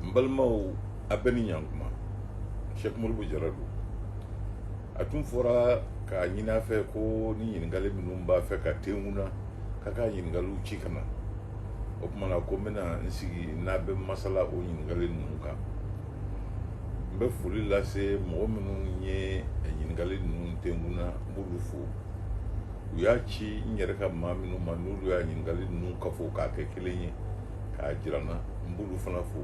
n balimaw a bɛɛ ni ɲankuma sɛk modibo jara don a tun fɔra k'a ɲini a fɛ ko ni ɲininkali minnu b'a fɛ ka tenku n na k'a k'a ɲininkaliw ci ka na o tuma na ko n bɛna n sigi n'a bɛ masala o ɲininkali ninnu kan n bɛ foli lase mɔgɔ minnu ye ɲininkali ninnu tenku n na n b'olu fo u y'a ci n yɛrɛ ka maa minnu ma n'olu y'a ɲininkali ninnu kafo k'a kɛ kelen ye k'a jira n na n b'olu fana fo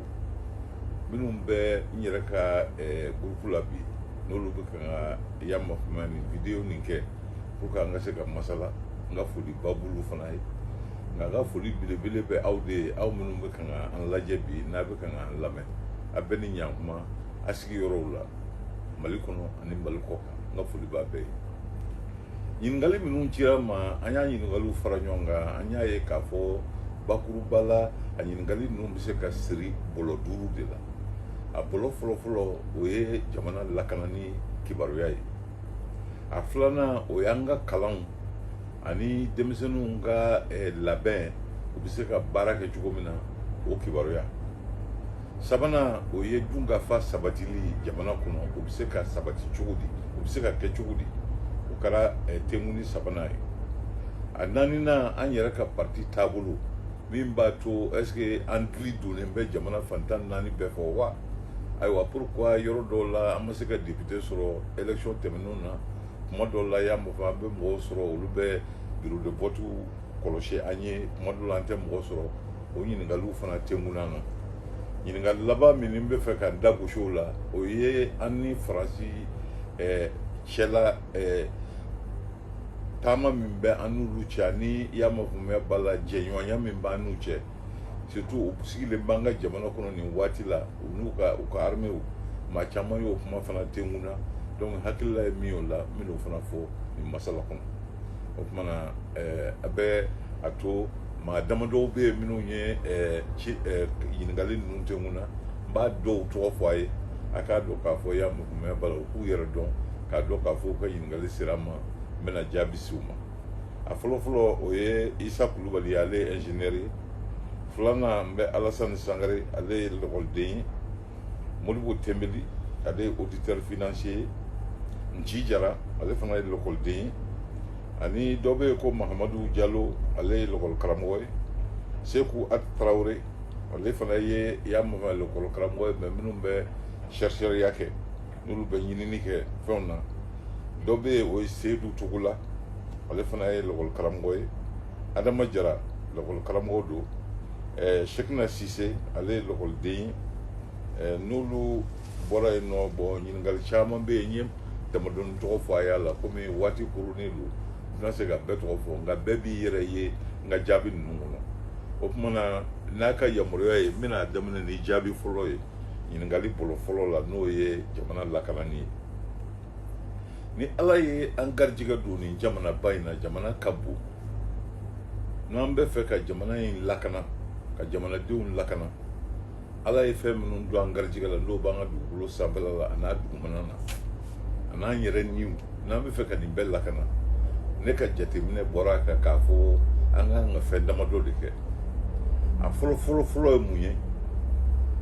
minnu bɛ n yɛrɛ ka eh, gurupu la bi n'olu bɛ kan ka yamafama nin videyo nin kɛ pour que an ka se ka masala n ka foliba b'olu fana ye nka n ka foli belebele bɛ aw de ye aw minnu bɛ kan ka an lajɛ bi n'a bɛ kan ka an lamɛn a bɛɛ ni ɲankuma a sigiyɔrɔw la mali kɔnɔ ani mali kɔkan n ka foli b'a bɛɛ ye ɲininkali minnu cira n ma an y'a ɲininkaliw fara ɲɔgɔn kan an y'a ye k'a fɔ bakuruba la a ɲininkali ninnu bɛ se ka siri bɔlɔ duuru de la a bɔlɔ fɔlɔfɔlɔ o ye jamana lakanani kibaruya ye a filanan o y'an ka kalanw ani denmisɛnninw ka eh, labɛn u bɛ se ka baara kɛ cogo min na o kibaruya sabanan o ye dunkafa sabatili ye jamana kɔnɔ o bɛ se ka sabati cogo di o bɛ se ka kɛ cogo di o kɛra eh, tenkuni sabanan ye a naaninan an yɛrɛ ka parti taabolo min b'a to est ce que an dili donnen bɛ jamana fan tan ni naani bɛɛ fɛ wa ayiwa pourquoi yɔrɔ dɔw la an ma se ka député sɔrɔ élection tɛmɛnenw na kuma dɔw la y'a mɔfɔ an bɛ mɔgɔw sɔrɔ olu bɛ bureau de vote kɔlɔsi an ye kuma dɔw la an tɛ mɔgɔ sɔrɔ o ɲininkaliw fana tengun na ɲininkali laban min n bɛ fɛ ka n da gosi o la o ye an ni faransi eh, cɛla eh, taama min bɛ an n'olu cɛ ani y'a mafaamuya b'a la jɛɲɔgɔnya min b'an n'u cɛ surtout u sigilen b'an ka jamana kɔnɔ nin waati la u n'u ka u ka armew maa caman y'o kuma fana tengu n na donc hakilila ye min y'o la n bɛn'o fana fɔ nin masala kɔnɔ o tuma na eh, a bɛ a to maa damadɔw bɛ yen minnu ye eh, ci eh, ɲininkali ninnu tengu n na n b'a dɔw tɔgɔ fɔ a ye a k'a dɔn k'a fɔ y'a mɛn wala u k'u yɛrɛ dɔn k'a dɔn k'a fɔ u ka ɲininkali sera n ma n bɛna jaabi ci u ma a fɔlɔfɔlɔ o ye isa kulubali ye ale ye ingénieur ye filanan n bɛ alasani sangare ale ye lɔkɔliden ye modibo tɛnbeli ale ye auditeur financier ye nci jara ale fana ye lɔkɔliden ye ani dɔ bɛ yen ko mahamadu jalo ale ye lɔkɔli karamɔgɔ ye seku at tarawele ale fana ye y'a mama lɔkɔli karamɔgɔ ye maa minnu bɛ chercheurya kɛ n'olu bɛ ɲinini kɛ fɛnw na dɔ bɛ yen o ye seyidu togola ale fana ye lakɔli karamɔgɔ ye adama jara lakɔli karamɔgɔ don ɛɛ sekina sise ale ye lakɔliden ye ɛɛ n'olu bɔra yen bon ɲininkali caman bɛ yen n ye damadɔni tɔgɔ fɔ a y'a la komi waati koronnen don n tɛna se ka bɛɛ tɔgɔ fɔ nka bɛɛ b'i yɛrɛ ye n ka jaabi ninnu kɔnɔ o tuma na n'a ka yamaruya ye n bɛna daminɛ ni jaabi fɔlɔ ye ɲininkali bolo fɔlɔ la n'o ye jamana lakanani ye ni ala ye an garijɛgɛ don nin jamanaba in na jamana ka bon n'an bɛ fɛ ka jamana in lakana ka jamanadenw lakana ala ye fɛn minnu don an garijɛgɛ la n'o b'an ka dugukolo sanfɛla la a n'a dugumana na an'an yɛrɛ niw n'an bɛ fɛ ka nin bɛɛ lakana ne ka jateminɛ bɔra a kan k'a fɔ an ka kan ka fɛn damadɔ de kɛ a fɔlɔ fɔlɔ fɔlɔ ye mun ye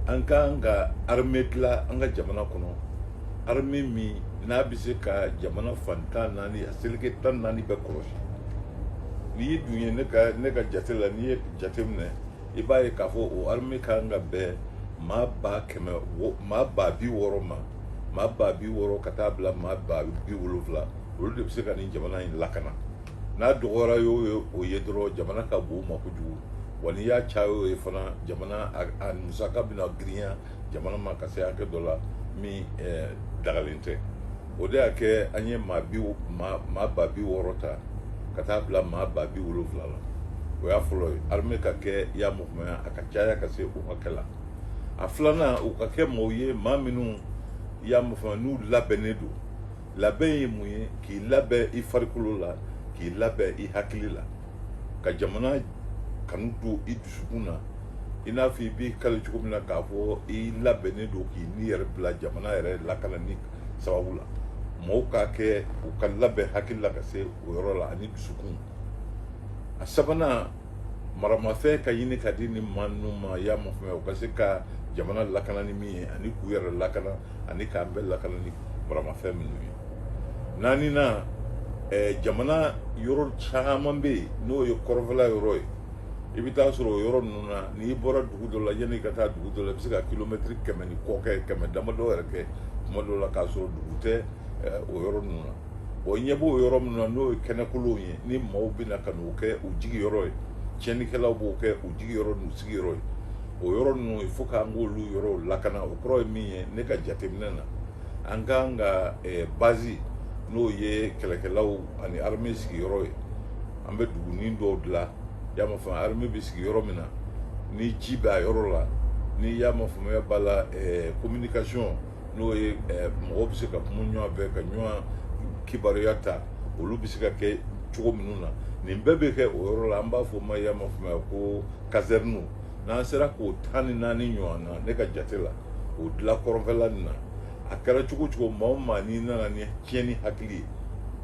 an ka kan ka armée dilan an ka jamana kɔnɔ armée min n'a bɛ se ka jamana fan tan naani a seleke tan naani bɛɛ kɔlɔsi n'i dun ye ne ka ne ka jate la n'i ye jate minɛ i b'a ye k'a fɔ o armée ka kan ka bɛn maa ba kɛmɛ maa ba bi wɔɔrɔ ma maa ba bi wɔɔrɔ ka taa bila maa ba bi wolonwula olu de bɛ se ka nin jamana in lakana n'a dɔgɔyara y'o ye o ye dɔrɔn jamana ka bon u ma kojugu wa n'i y'a caya y'o ye fana jamana a musaka bɛna girinya jamana ma ka se hakɛ dɔ la min dagalen tɛ o de y'a kɛ an ye maa bi maa maa ba bi wɔɔrɔ ta ka taa bila maa ba bi wolonfila la o y'a fɔlɔ ye armée ka kɛ y'a ma faamuya a ka caya ka se o hakɛ la a filanan u ka kɛ mɔgɔw ye maa minnu y'a ma faamuya n'u labɛnnen don labɛn ye mun ye k'i labɛn i farikolo la k'i labɛn i hakili la ka jamana kanu don i dusukun na i n'a fɔ i b'i kali cogo min na k'a fɔ i labɛnnen don k'i ni yɛrɛ bila jamana yɛrɛ lakanani kan sababu la mɔgɔw ka kɛ u ka labɛn hakili la ka se o yɔrɔ la ani dusukun a sabanan maramafɛn ka ɲini ka di nin maa ninnu ma y'a ma faamuya u ka se ka jamana lakana ni min ye ani k'u yɛrɛ lakana ani k'an bɛɛ lakana ni maramafɛn minnu ye naaninan eh, jamana yɔrɔ caman bɛ yen n'o ye kɔrɔfɛla yɔrɔ ye i bɛ taa sɔrɔ o yɔrɔ ninnu na n'i bɔra dugu dɔ la yanni i ka taa dugu dɔ la i bɛ se ka kilomɛtiri kɛmɛ ni kɔ kɛ kɛmɛ damadɔ yɛrɛ kɛ tuma dɔ la k'a sɔrɔ dugu tɛ eh, o yɔrɔ ninnu na bon i ɲɛ b'o yɔrɔ minnu na n'o ye kɛnɛkolonw ye ni maaw bɛna ka n'o kɛ u jigi yɔrɔ ye tiɲɛnikɛlaw b'o kɛ u jigi yɔrɔ n'u sigi yɔrɔ ye o yɔrɔ ninnu il faut k'an k'olu yɔrɔw lakana o kɔrɔ ye min ye ne ka jateminɛ na an ka kan ka eh, bazi n'o ye kɛlɛkɛlaw ani armée sigiyɔrɔ ye an bɛ dugunin dɔw dilan y'a ma faamuya armée bɛ sigi yɔrɔ min na ni ji b'a yɔrɔ la ni y'a ma faamuya b'a la eh, communication n'o ye eh, mɔgɔw bɛ se ka kuma ɲɔgɔn fɛ ka ɲɔgɔn kibaruya ta olu bɛ se ka kɛ cogo minnu na nin bɛɛ bɛ kɛ o yɔrɔ la an b'a fɔ ma y'a ma faamuya ko kazɛriniw n'an sera k'o tan ni naani ɲɔgɔn na ne ka jate la o dilan kɔrɔnfɛla nin na a kɛra cogo cogo maa o maa n'i nana ni tiɲɛni hakili ye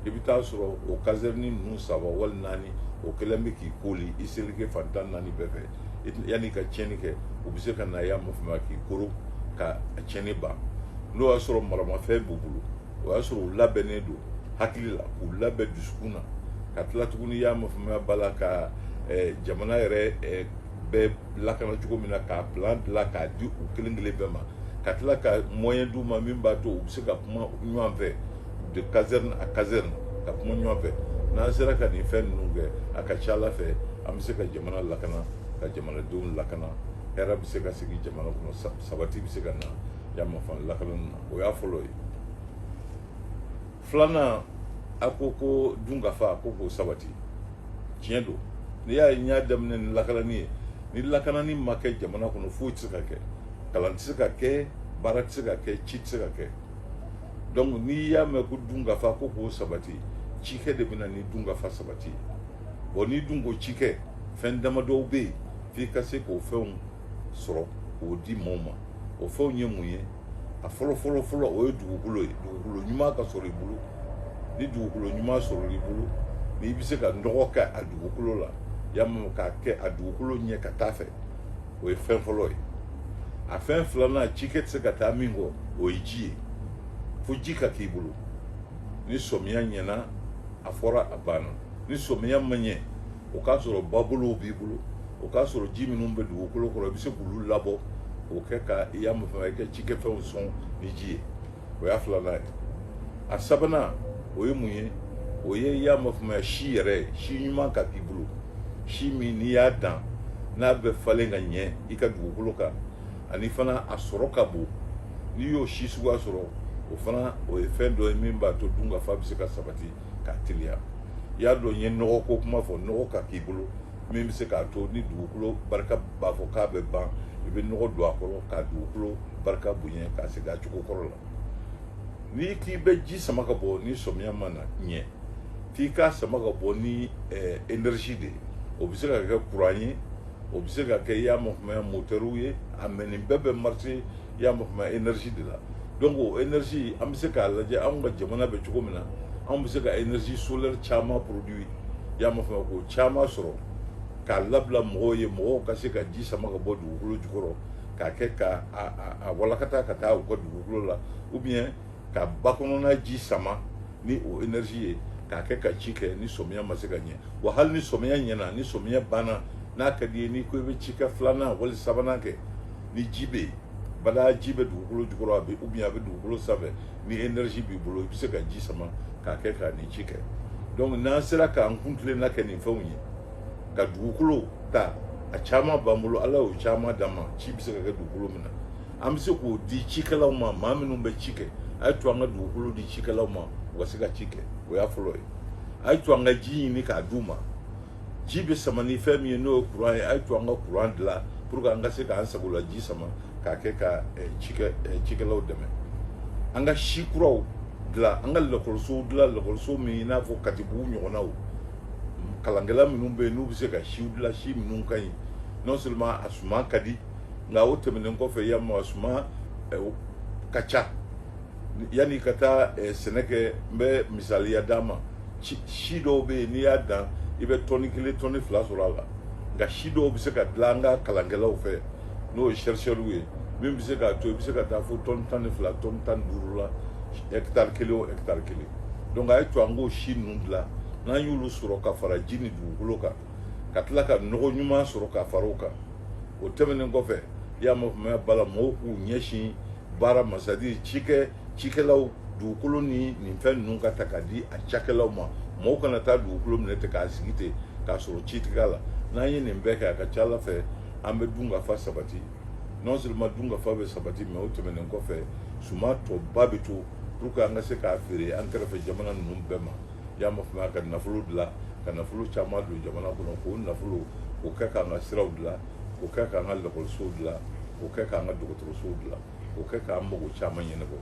i bɛ t'a sɔrɔ o kazɛrini ninnu saba wali naani o kɛlen bɛ k'i koli i seleke fan tan naani bɛɛ fɛ yanni i ka tiɲɛni kɛ u bɛ se ka na y'a ma faamuya k'i koro ka a tiɲɛni ban n'o y'a sɔrɔ maramafɛn b'u bolo o y'a sɔrɔ u labɛnnen don hakili la k'u labɛn dusukun na ka tila tuguni y'a ma faamuya b'a la ka jamana yɛrɛ bɛɛ lakana cogo min na k'a plan dilan k'a di u kelen kelen bɛɛ ma ka tila ka moyen d'u ma min b'a to u bɛ se ka kuma ɲɔgɔn fɛ de caserne à caserne ka kuma ɲɔgɔn fɛ n'an sera ka nin fɛn ninnu kɛ a ka ca ala fɛ an bɛ se ka jamana lakana ka jamanadenw lakana hɛrɛ bɛ se ka sigi jamana kɔnɔ sabati bɛ se ka na y'a ma faamu lakanani na o y'a fɔlɔ ye filanan a ko ko dunkafa ko k'o sabati tiɲɛ don n'i y'a ye n y'a daminɛ ni lakanani ye ni lakanani ma kɛ jamana kɔnɔ foyi tɛ se ka kɛ kalan tɛ se ka kɛ baara tɛ se ka kɛ ci tɛ se ka kɛ donc n'i y'a mɛn ko dunkafa ko k'o sabati cikɛ de bɛna ni dunkafa sabati ye bon n'i dun ko cikɛ fɛn damadɔw bɛ yen f'i ka se k'o fɛnw sɔrɔ k'o di maaw ma o fɛnw ye mun ye a fɔlɔ fɔlɔ fɔlɔ o ye dugukolo ye dugukolo ɲuman ka sɔrɔ i bolo ni dugukolo ɲuman sɔrɔla i bolo n'i bɛ se ka nɔgɔ kɛ a dugukolo la y'a ma faamu k'a kɛ a dugukolo ɲɛ ka t'a fɛ o ye fɛn fɔlɔ ye a fɛn filanan cikɛ tɛ se ka taa min kɔ o ye ji ye fo ji ka k'i bolo ni sɔmiya ɲɛna a fɔra a banna ni sɔmiya ma ɲɛ o k'a sɔrɔ babolow b'i bolo o k'a sɔrɔ ji minnu bɛ dugukolo kɔrɔ i bɛ se k'olu labɔ k'o kɛ ka i y'a ma faamuya i ka cikɛfɛnw sɔn ni ji ye o y'a filanan ye a sabanan o ye mun ye o ye i y'a ma faamuya si yɛrɛ ye si ɲuman ka k'i bolo si min n'i y'a dan n'a bɛ falen ka ɲɛ i ka dugukolo kan ani fana a sɔrɔ ka bon n'i y'o si suguya sɔrɔ o fana o ye fɛn dɔ ye min b'a to dunkafa bɛ se ka sabati ka teliya i y'a dɔn n ye nɔgɔ ko kuma fɔ nɔgɔ ka k'i bolo min bɛ se k'a to ni dugukolo barika b'a fɔ k'a bɛ ban i bɛ nɔgɔ don a kɔrɔ ka dugukolo barika bonya k'a segin a cogo kɔrɔ la n'i k'i bɛ ji sama ka bɔ ni sɔmiya ma na ɲɛ f'i k'a sama ka bɔ ni eh, energie de ye o bɛ se ka kɛ kuran ye o bɛ se ka kɛ i y'a ma faamuya motɛriw ye a mɛ nin bɛɛ bɛ marché i y'a mafama énergie de la donc o énergie an bɛ se k'a lajɛ anw ka jamana bɛ cogo min na anw bɛ se ka énergie solaire caman produit i y'a mafama k'o caman sɔrɔ k'a labila mɔgɔw ye mɔgɔw ka se ka ji sama ka bɔ dugukolo jukɔrɔ k'a kɛ ka a walakata ka taa u ka dugukolo la ou bien ka ba kɔnɔna ji sama ni o énergie ye k'a kɛ ka ci kɛ ni sɔmiya ma se ka ɲɛ wa hali ni sɔmiya ɲɛna ni sɔmiya banna n'a ka di ye n'i ko i bɛ cikɛ filanan wali sabanan kɛ ni ji bɛ yen voilà ji bɛ dugukolo jukɔrɔ a bɛ u a bɛ dugukolo sanfɛ ni énergie b'i bolo i bɛ se ka ji sama k'a kɛ k'a ni ci kɛ donc n'an sera k'an kuntilenna kɛ nin fɛnw ye ka dugukolo ta a caman b'an bolo ala y'o caman d'an ma ci bɛ se ka kɛ dugukolo min na an bɛ se k'o di cikɛlaw ma maa minnu bɛ ci kɛ a ye to an ka dugukolo di cikɛlaw ma u ka se ka ci kɛ o y'a fɔlɔ ye a ye to an ka ji ɲini k'a d'u ma ji bɛ sama ni fɛn min ye n'o ye kuran ye a ye to an ka kuran dilan pour que an ka se k'an sago la ji sama k'a kɛ ka eh, cikɛ eh, cikɛlaw dɛmɛ an ka si kuraw dilan an ka lakɔlisow dilan lakɔliso min i n'a fɔ katibugu ɲɔgɔnnaw kalankɛla minnu bɛ yen n'u bɛ se ka siw dilan si minnu ka ɲi non seulement a suma ka di nka o tɛmɛnen kɔfɛ y'a ma a suma eh, ka ca yanni ka taa sɛnɛ kɛ n bɛ misaliya d'a ma si dɔw bɛ yen n'i y'a dan i bɛ tɔni kelen tɔni fila sɔrɔ a la nka si dɔw bɛ se ka dilan an ka kalankɛlaw fɛ n'o ye chercheurw ye min bɛ se k'a to i bɛ se ka taa fo tɔni tan ni fila tɔni tan ni duuru la hɛkitari kelen o hɛkitari kelen donc a ye to an k'o si ninnu dilan n'an y'olu sɔrɔ ka fara ji ni dugukolo kan ka tila ka nɔgɔ ɲuman sɔrɔ ka fara o kan o tɛmɛnen kɔfɛ i y'a mafamaya voilà mɔgɔw k'u ɲɛsin baara ma c'est-à-dire cikɛ cikɛlaw dugukolo ni nin fɛn ninnu ka ta ka di a cakɛlaw ma mɔgɔw kana taa dugukolo minɛ ten k'a sigi ten k'a sɔrɔ ci tɛ k'a la n'an ye nin bɛɛ kɛ a ka ca a la fɛ an bɛ dunkafa sabati non seulement dunkafa bɛ sabati mais o tɛmɛnen kɔfɛ suma tɔba bɛ to pour que an ka se k'a feere an kɛrɛfɛ jamana ninnu bɛɛ ma y'a ma faamuya ka nafolo dilan ka nafolo caman don jamana kɔnɔ k'o nafolo k'o kɛ k'an ka siraw dilan k'o kɛ k'an ka lakɔlisow dilan k'o kɛ k'an ka dɔgɔtɔrɔsow dilan o kɛ k'an mago caman ɲɛnabɔ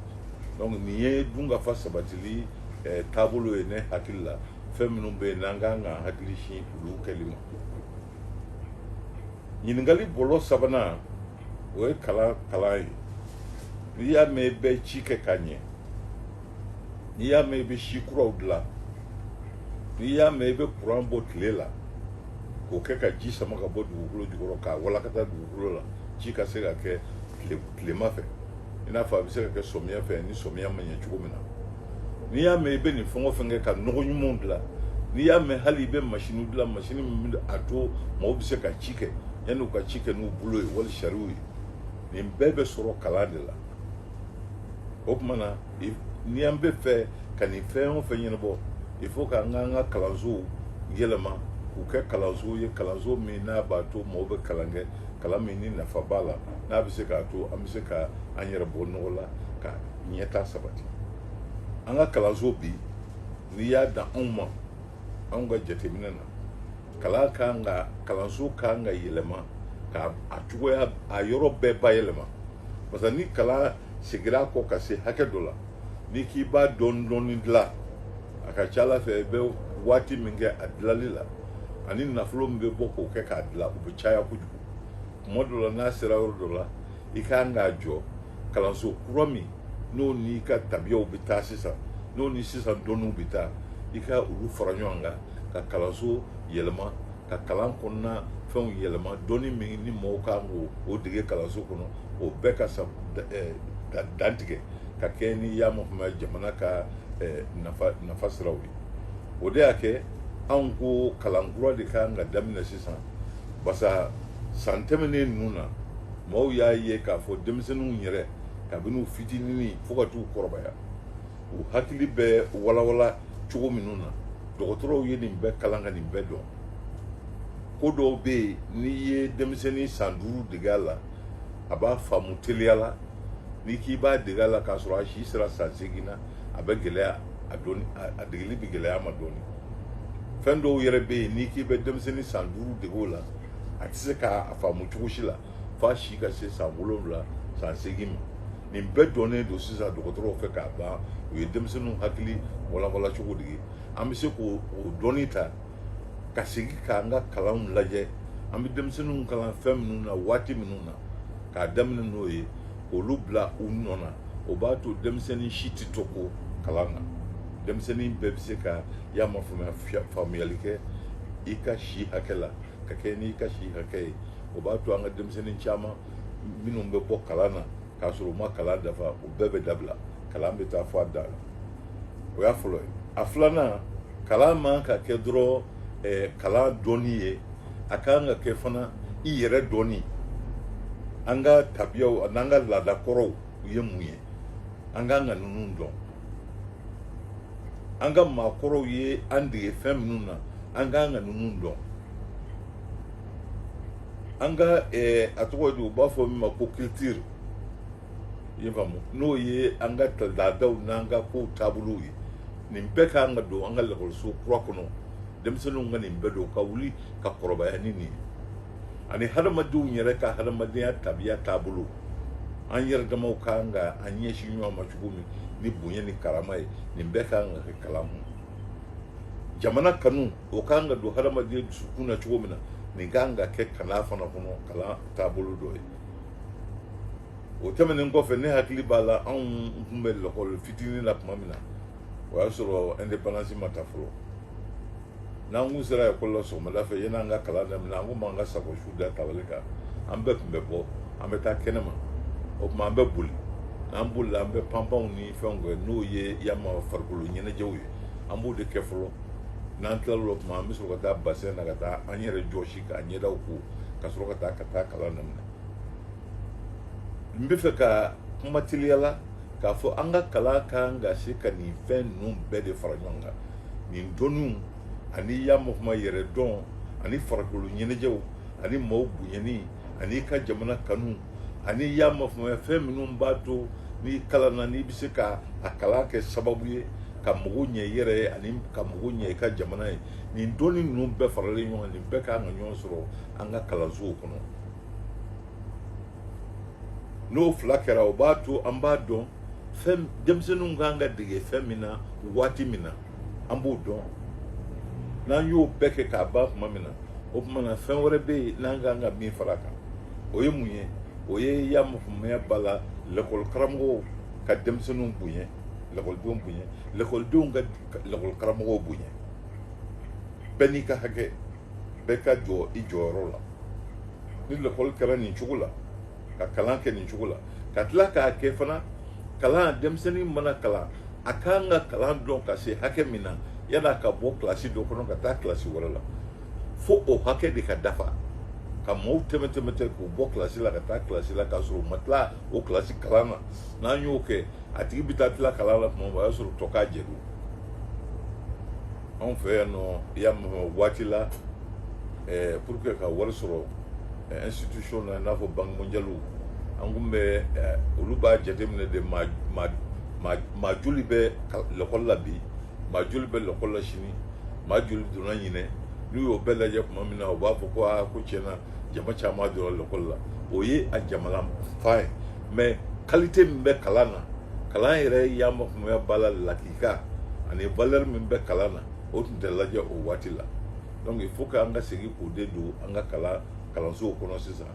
donc nin ye dunkafa sabatili eh, taabolo ye ne hakili la fɛn minnu bɛ yen n'an ka kan k'an hakili sin olu kɛli ma ɲininkali bɔlɔ sabanan o ye kalan kalan ye n'i y'a mɛn i bɛ ci kɛ ka ɲɛ n'i y'a mɛn i bɛ si kuraw dilan n'i y'a mɛn i bɛ kuran bɔ tile la k'o kɛ ka ji sama ka bɔ dugukolo jukɔrɔ k'a walakata dugukolo la ci ka se ka kɛ tilema fɛ i n'a fɔ a bɛ se ka kɛ sɔmiya fɛ ni sɔmiya ma ɲɛ cogo min na n'i y'a mɛn i bɛ nin fɛn o fɛn kɛ ka nɔgɔ ɲumanw dilan n'i y'a mɛn hali i bɛ masini dilan masini min bɛ a to mɔgɔw bɛ se ka ci kɛ yanni u ka ci kɛ n'u bolo ye wali sariw ye nin bɛɛ bɛ sɔrɔ kalan de la o tuma na ni an bɛ fɛ ka nin fɛn o fɛn ɲɛnabɔ i fo ka an k'an ka kalansow yɛlɛma k'u kɛ kalansow ye kalanso min n'a b'a to mɔgɔw bɛ kalan kɛ kalan min ni nafa b'a la n'a bɛ se k'a to an bɛ se ka an yɛrɛ bɔ nɔgɔ la ka ɲɛtaa sabati an ka kalanso bi n'i y'a dan anw ma anw ka jateminɛ na kalan kan ka kalanso kan ka yɛlɛma ka a cogoya a yɔrɔ bɛɛ bayɛlɛma parce que ni kalan segira kɔ ka se hakɛ dɔ la n'i k'i b'a dɔɔni dɔɔni dilan a ka ca a la fɛ i bɛ waati min kɛ a dilali la ani nafolo min bɛ bɔ k'o kɛ k'a dilan o bɛ caya kojugu tuma dɔ la n'a sera yɔrɔ dɔ la i ka kan k'a jɔ kalanso kura min n'o n'i ka tabiyaw bɛ taa sisan n'o ni sisan dɔnniw bɛ taa i ka olu fara ɲɔgɔn kan ka kalanso yɛlɛma ka kalan kɔnɔna fɛnw yɛlɛma dɔnni min ni mɔgɔw kan k'o dege kalanso kɔnɔ o bɛɛ ka sa eh, ka dantigɛ ka kɛɲɛ ni y'a ma faamuya jamana ka eh, nafa nafa siraw ye o de y'a kɛ anw ko kalan kura de kan ka daminɛ sisan basa san tɛmɛnen ninnu na mɔgɔw y'a ye k'a fɔ denmisɛnninw yɛrɛ kabini u fitinin fo ka t'u kɔrɔbaya u hakili bɛ walawala cogo minnu na dɔgɔtɔrɔw ye nin bɛɛ kalan ka nin bɛɛ dɔn ko dɔw bɛ yen n'i ye denmisɛnnin san duuru dege a la a b'a faamu teliya la n'i k'i b'a dege a la k'a sɔrɔ a si sera san seegin na a bɛ gɛlɛya a dɔnni a degeli bɛ gɛlɛya a ma dɔɔni fɛn dɔw yɛrɛ bɛ yen n'i k'i bɛ denmisɛnnin san duuru dege o la a tɛ se k'a faamu cogo si la f'a si ka se san wolonwula san seegin ma nin bɛɛ dɔnnen don sisan dɔgɔtɔrɔw fɛ k'a ban u ye denmisɛnninw hakili walawala cogo dege an bɛ se k'o dɔnni ta ka segin k'an ka kalanw lajɛ an bɛ denmisɛnninw kalan fɛn minnu na waati minnu na k'a daminɛ n'o ye k'olu bila u nɔ na o b'a to denmisɛnnin si tɛ to kɔ kalan na denmisɛnnin bɛɛ bɛ se ka y'a ma faamuya faamuyali kɛ i ka si hakɛ la ka kɛɲɛ n'i ka si hakɛ ye o b'a to an ka denmisɛnnin caman minnu bɛ bɔ kalan na k'a sɔrɔ u ma kalan dafa o bɛɛ bɛ dabila kalan bɛ taa fo a dan na o y'a fɔlɔ ye a filanan kalan man ka kɛ dɔrɔn eh, kalan dɔnni ye a ka kan ka kɛ fana i yɛrɛ dɔnni an ka tabiyaw n'an ka laada kɔrɔw u ye mun ye an ka kan ka ninnu dɔn an ka maakɔrɔw ye an dege fɛn minnu na an ka kan ka ninnu dɔn an ka ɛɛ a tɔgɔ ye di u b'a fɔ min ma ko kilitiri i ye faamu n'o ye an ka laadaw n'an ka kow taabolow ye nin bɛɛ ka kan ka don an ka lakɔliso kura kɔnɔ denmisɛnninw ka nin bɛɛ dɔn ka wuli ka kɔrɔbaya ni nin ye ani hadamadenw yɛrɛ ka hadamadenya tabiya taabolo an yɛrɛ damaw ka kan ka an ɲɛsin ɲɔgɔn ma cogo min ni bonya ni karama ye nin bɛɛ ka kan ka kɛ kalan mun jamana kanu o ka kan ka don hadamaden dusukun na cogo min na nin ka kan ka kɛ kalan fana kɔnɔ kalan taabolo dɔ ye o tɛmɛnen kɔfɛ ne hakili b'a la anw tun bɛ lakɔli fitinin na tuma min na o y'a sɔrɔ indépendance ma ta fɔlɔ n'an kun sera ekɔli la sɔgɔmada fɛ yan'an ka kalan daminɛ an kun b'an ka sakosu da tabali kan an bɛɛ tun bɛ bɔ an bɛ taa kɛnɛma o tuma an bɛ boli n'an bolila an bɛ panpanw ni fɛnw kɛ n'o ye yama farikolo ɲɛnajɛw ye an b'o de kɛ fɔlɔ n'an tilala o tuma an bɛ sɔrɔ ka taa basɛn na ka taa an yɛrɛ jɔsi k'an ɲɛdaw ko ka sɔrɔ ka taa ka taa kalan daminɛ n bɛ fɛ ka kuma teliya la k'a fɔ an ka kalan ka kan ka se ka nin fɛn ninnu bɛɛ de fara ɲɔgɔn kan nin dɔnniw ani yamɔkuma yɛrɛ dɔn ani farikolo ɲɛnajɛw ani maaw bonyani ani i ka jamana kanu ani y'a mafamaya fɛn minnu b'a to n'i kalanna n'i bɛ se ka a kalan kɛ sababu ye ka mago ɲɛ i yɛrɛ ye ani ka mago ɲɛ i ka jamana ye nin dɔnni ninnu bɛɛ faralen ɲɔgɔn kan nin bɛɛ kan ka ɲɔgɔn sɔrɔ an ka kalansow kɔnɔ n'o fila kɛra o b'a to an b'a dɔn fɛn denmisɛnninw kan ka dege fɛn min na waati min na an b'o dɔn n'an y'o bɛɛ kɛ k'a ban tuma min na o tuma na fɛn wɛrɛ bɛ yen n'an kan ka min fara kan o ye mun ye o ye ya mɔgɔmaya b'a la lakɔli karamɔgɔw ka denmisɛnninw bonya lakɔlidenw bonya lakɔlidenw ka lakɔli karamɔgɔw bonya bɛɛ n'i ka hakɛ bɛɛ ka jɔ i jɔyɔrɔ la ni lakɔli kɛra nin cogo la ka kalan kɛ nin cogo la ka tila k'a kɛ fana kalan denmisɛnnin mana kalan a kan ka kalan dɔn ka se hakɛ min na yala ka bɔ kilasi dɔ kɔnɔ ka taa kilasi wɛrɛ la fo o hakɛ de ka dafa ka mɔgɔw tɛmɛ tɛmɛ ten k'u bɔ kilasi la ka taa kilasi la k'a sɔrɔ u ma tila o kilasi kalan na n'an y'o kɛ a tigi bɛ taa tila kalan la tuma min o y'a sɔrɔ tɔ k'a jɛ don anw fɛ yan nɔ i y'a mɛn waati la eh, pour que ka wari sɔrɔ eh, institution na i n'a fɔ banque mondiale ani ko bɛɛ eh, olu b'a jateminɛ de maa maa maa maa joli bɛ lɛkɔli la bi maa joli bɛ lɛkɔli la sini maa joli donna ɲinan n'u y'o bɛɛ lajɛ tuma min na u b'a fɔ ko aa ko tiɲɛ na jama caman donna lɛkɔli la o ye a jamana fa ye mais qualité min bɛ kalan na kalan yɛrɛ y'a ma faamuya b'a la laki ka ani valeur min bɛ kalan na o tun tɛ lajɛ o waati la donc il faut que an ka segin k'o de don an ka kalan kalansow kɔnɔ sisan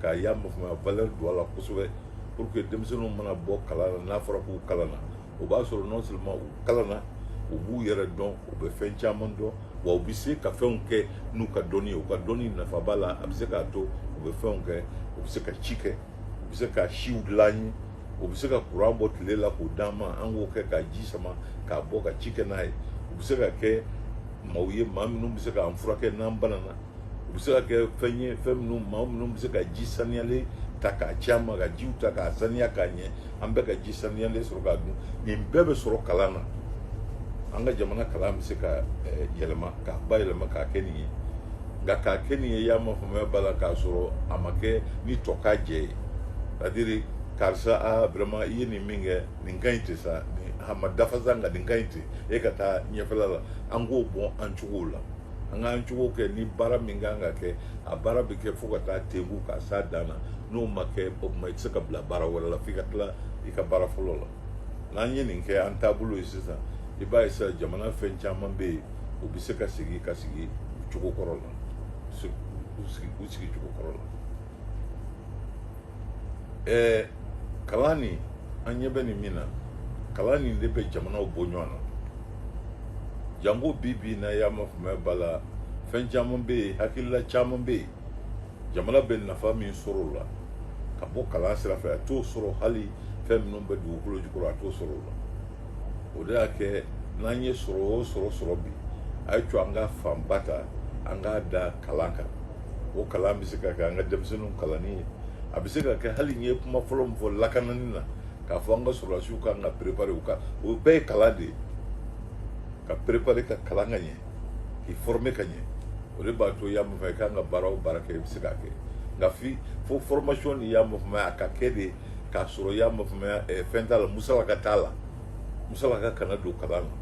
k'a y'a ma faamuya valeur don a la kosɛbɛ pour que denmisɛnninw mana bɔ kalan na n'a fɔra k'u kalanna o b'a sɔrɔ non seulement u kalanna u b'u yɛrɛ dɔn u bɛ fɛn caman dɔn wa u bɛ se ka fɛnw kɛ n'u ka dɔnni ye u ka dɔnni nafa b'a la a bɛ se k'a to u bɛ fɛnw kɛ u bɛ se ka ci kɛ u bɛ se ka siw dilan ye u bɛ se ka kuran bɔ tile la k'o d'an ma an k'o kɛ ka ji sama k'a bɔ ka ci kɛ n'a ye u bɛ se ka kɛ maaw ye maa minnu bɛ se k'an furakɛ n'an banana u bɛ se ka kɛ fɛn ye fɛn minnu maa minnu bɛ se ka ji saniyalen ta k'a ci an ma ka jiw ta k'a saniya k'a ɲɛ an bɛɛ ka ji saniyalen sɔrɔ k'a dun nin bɛɛ bɛ sɔrɔ kalan na an ka jamana kalan bɛ se ka eh, yɛlɛma k'a bayɛlɛma k'a kɛ nin ye nka k'a kɛ nin ye y'a ma faamuya b'a la k'a sɔrɔ a ma kɛ ni tokajɛ ye c'est-à-dire karisa a vraiment i ye nin min kɛ nin ka ɲi ten sa a ma dafa sa nka nin ka ɲi ten e ka taa ɲɛfɛla la an k'o bɔ an cogo la an k'an cogo kɛ ni baara min kan ka kɛ a baara bɛ kɛ fo ka taa tebu ka s'a dan na n'o ma kɛ o tuma i tɛ se ka bila baara wɛrɛ la f'i ka tila i ka baara fɔlɔ la n'an ye nin kɛ an taabolo ye sisan i b'a ye sisan jamana fɛn caman bɛ yen u bɛ se ka sigi ka sigi u cogo kɔrɔ la u sigi u sigi cogo kɔrɔ la ɛɛ kalan nin an ɲɛ bɛ nin min na kalan nin de bɛ jamanaw bɔ ɲɔgɔn na janko bi bi in na y'a ma faamuya b'a la fɛn caman bɛ yen hakilila caman bɛ yen jamana bɛ nafa min sɔrɔ o la ka bɔ kalan sira fɛ a t'o sɔrɔ hali fɛn minnu bɛ dugukolo jukɔrɔ a t'o sɔrɔ o la o de y'a kɛ n'an ye sɔrɔ o sɔrɔ sɔrɔ bi a y'a to an ka fanba ta an k'a da kalan kan o kalan bɛ se ka kɛ an ka denmisɛnninw kalanni ye a bɛ se ka kɛ hali n ye kuma fɔlɔ min fɔ lakanani na k'a fɔ an ka sɔrɔdasiw ka kan ka préparer u ka o bɛɛ ye kalan de ye ka préparer ka kalan ka ɲɛ k'i former ka ɲɛ o de b'a to y'a mun fɛ i kan ka baara o baara kɛ i bɛ se k'a kɛ nka fi fo formation nin y'a ma faamuya a ka kɛ de k'a sɔrɔ y'a ma faamuya eh, fɛn t'a la musalaka t'a la musalaka kana don kalan na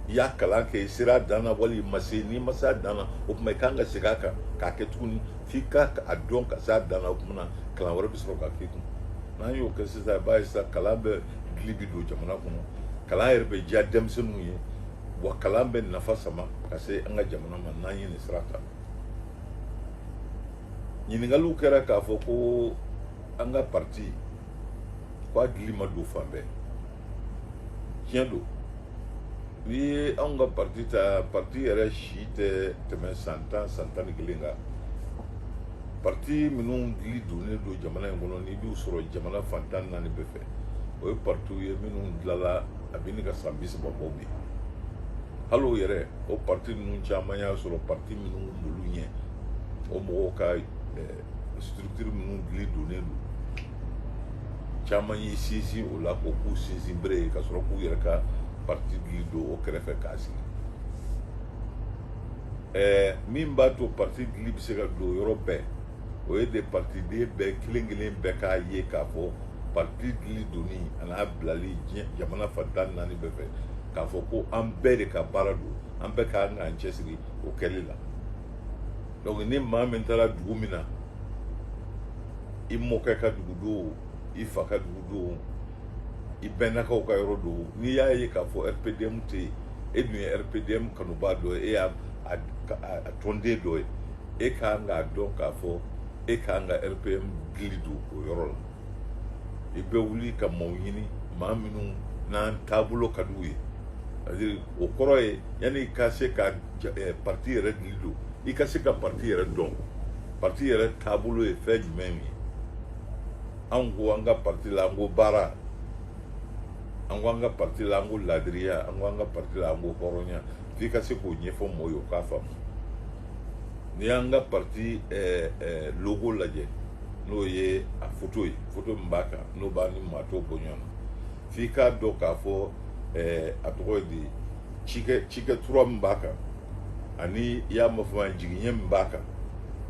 i y'a kalan kɛ i sera dan na wali i ma se n'i ma se a dan na o tuma i kan ka segin a kan k'a kɛ tuguni f'i ka a dɔn ka se a dan na o tuma na kalan wɛrɛ bɛ sɔrɔ ka k'i kun n'an y'o kɛ sisan i b'a ye sisan kalan bɛ dili bi don jamana kɔnɔ kalan yɛrɛ bɛ diya denmisɛnninw ye wa kalan bɛ nafa sama ka se an ka jamana ma n'an ye nin sira ta ɲininkaliw kɛra k'a fɔ ko an ka parti ko a dili ma don fan bɛɛ tiɲɛ don n'i ye anw ka parti ta parti yɛrɛ si tɛ tɛmɛ san tan san tan ni kelen kan parti minnu dili donnen don jamana in kɔnɔ n'i b'u sɔrɔ jamana fan tan ni naani bɛɛ fɛ o ye partiw ye minnu dilala a bɛ ɲini ka san bi saba bɔ bi hali o yɛrɛ o parti ninnu caman y'a sɔrɔ parti minnu b'olu ɲɛ o mɔgɔw ka eh, structure minnu dili donnen don caman y'i sinsin o la k'o k'u sinsinbere ye ka sɔrɔ k'u yɛrɛ ka parti dili don o kɛrɛfɛ k'a sigi ɛɛ min b'a to parti dili bɛ se ka don yɔrɔ bɛɛ o ye de partiden bɛɛ kelen kelen bɛɛ k'a ye k'a fɔ parti dili donni an'a bilali diɲɛ jamana fan tan ni naani bɛɛ fɛ k'a fɔ ko an bɛɛ de ka baara don an bɛɛ ka kan k'an cɛsiri o kɛli la donc ni maa min taara dugu min na i mɔkɛ ka dugu don i fa ka dugu don i bɛnnakaw ka yɔrɔ don n'i y'a ye k'a fɔ rpdm tɛ yen e dun ye rpdm kanubaa dɔ ye e y'a tɔnden dɔ ye e ka kan k'a dɔn k'a fɔ e ka kan ka rpdm dili don o yɔrɔ la i bɛ wuli ka maaw ɲini maa minnu n'an taabolo ka d'u ye o kɔrɔ ye yanni i ka se ka eh, parti yɛrɛ dili don i ka se ka parti yɛrɛ dɔn parti yɛrɛ taabolo ye fɛn jumɛn ye anw ko an ka parti la an ko baara an ko an ka parti la an ko laadiriya an ko an ka parti la an ko hɔrɔnya f'i ka se k'o ɲɛfɔ mɔgɔ ye o k'a faamu n'i y'an ka parti eh, eh, logo lajɛ n'o ye a foto ye foto min b'a kan n'o b'a ni maa tɔw bɔ ɲɔgɔn na f'i k'a dɔn k'a fɔ eh, a tɔgɔ ye di cikɛ cikɛ tura min b'a kan ani i y'a mafama jigiɲɛ min b'a kan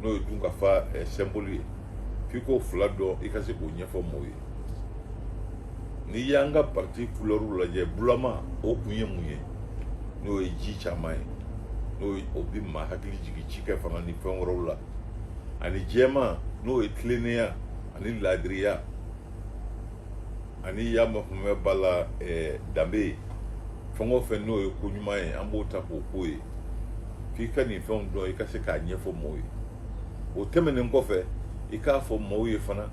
n'o ye dunkafa eh, sɛnboli ye f'i k'o fila dɔn i ka se k'o ɲɛfɔ mɔgɔw ye n'i y'an ka parti kulɛriw lajɛ bulama o kun ye mun ye n'o ye ji caman ye n'o ye o bɛ maa hakili jigin cikɛ fana ni fɛn wɛrɛw la ani jɛman n'o ye tilennenya ani laadiriya ani y'a mafamɛ ba la eh, danbe ye fɛn o fɛn n'o ye ko ɲuman ye an b'o ta k'o k'o ye f'i ka nin fɛnw dɔn i ka se k'a ɲɛfɔ mɔgɔw ye o tɛmɛnen kɔfɛ i k'a fɔ mɔgɔw ye fana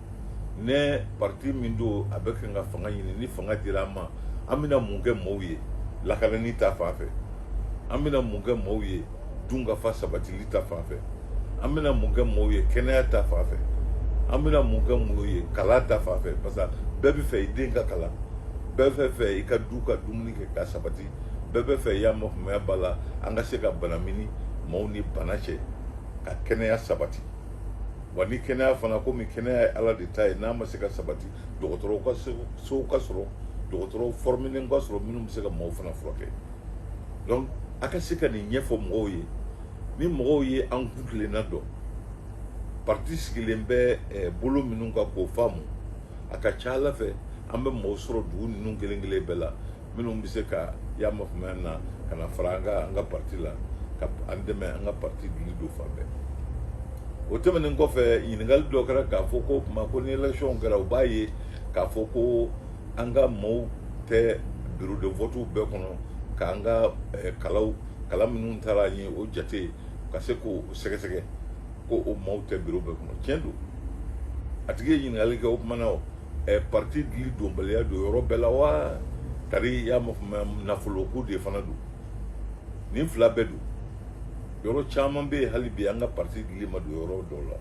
ne parti min don a bɛ ka fanga ɲini ni fanga dira an ma an bɛna mun kɛ maaw ye lakanani ta fan fɛ an bɛna mun kɛ maaw ye dunkafa sabatili ta fan fɛ an bɛna mun kɛ maaw ye kɛnɛya ta fan fɛ an bɛna mun kɛ maaw ye kalan ta fan fɛ parce que bɛɛ bɛ fɛ i den ka kalan bɛɛ bɛ fɛ i ka du ka dumuni kɛ ka sabati bɛɛ bɛ fɛ y'a mafamaya b'a la an ka se ka bana mini maaw ni bana cɛ ka kɛnɛya sabati wa ni kɛnɛya fana komi kɛnɛya ye ala de ta ye n'a ma se ka sabati dɔgɔtɔrɔsow ka sɔrɔ dɔgɔtɔrɔw fɔrɔminen ka sɔrɔ minnu bɛ se ka mɔgɔw fana furakɛ donc a ka se ka nin ɲɛfɔ mɔgɔw ye ni mɔgɔw ye an kuntilenna dɔn parti sigilen bɛ eh, bolo minnu kan k'o faamu a ka ca la fɛ an bɛ mɔgɔw sɔrɔ dugu ninnu kelen kelen bɛɛ la minnu bɛ se ka y'a mafumaya na ka na fara an ka an ka parti la ka an dɛmɛ an ka parti dili don fan bɛɛ o tɛmɛnen kɔfɛ ɲininkali dɔ kɛra k'a fɔ ko tuma ko ni élection kɛra u b'a ye k'a fɔ ko an ka maaw tɛ bureau de vote bɛɛ kɔnɔ k'an ka eh, kalaw kala minnu tara an ye o jate ka se k'o sɛgɛsɛgɛ ko o maaw tɛ bureau bɛɛ kɔnɔ tiɲɛ don a tigi ye ɲininkali kɛ o kuma na o ɛ parti dili donbaliya don yɔrɔ bɛɛ la wa tari y'a nafoloko de fana don nin fila bɛɛ don yɔrɔ caman bɛ yen hali bi an ka parti dili ma don yɔrɔ dɔw la